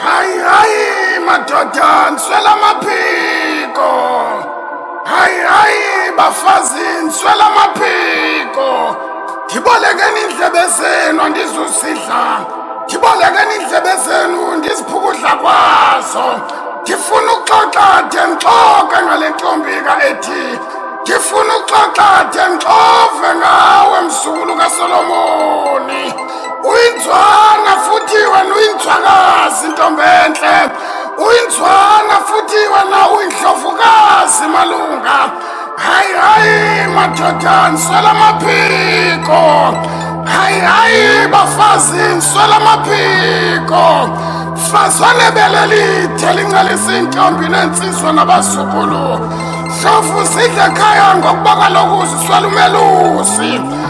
Hayi, hayi, madoda, nswela amaphiko. Hayi, hayi, bafazi, nswela amaphiko. Ndibolekeni iindlebe zenu andizusidla. Ndibolekeni iindlebe zenu ndiziphukudla kwazo. Ndifuna uxoxa de ndixoke ngale ntombi ka-Edi. Ndifuna uxoxa de ndixove ngawe mzukulu kaSolomoni. uyinzwana futhi wena uyinzwakazi ntombi entle uyinzwana futhi wena uyindlovukazi malunga hayi hayi madoda nswela amaphiko hayi hayi bafazi nswela amaphiko fazane belelide lincelisa iintombi neentsizwa nabazukulu hlofu sidle khaya ngokuba kaloku ziswela umelusi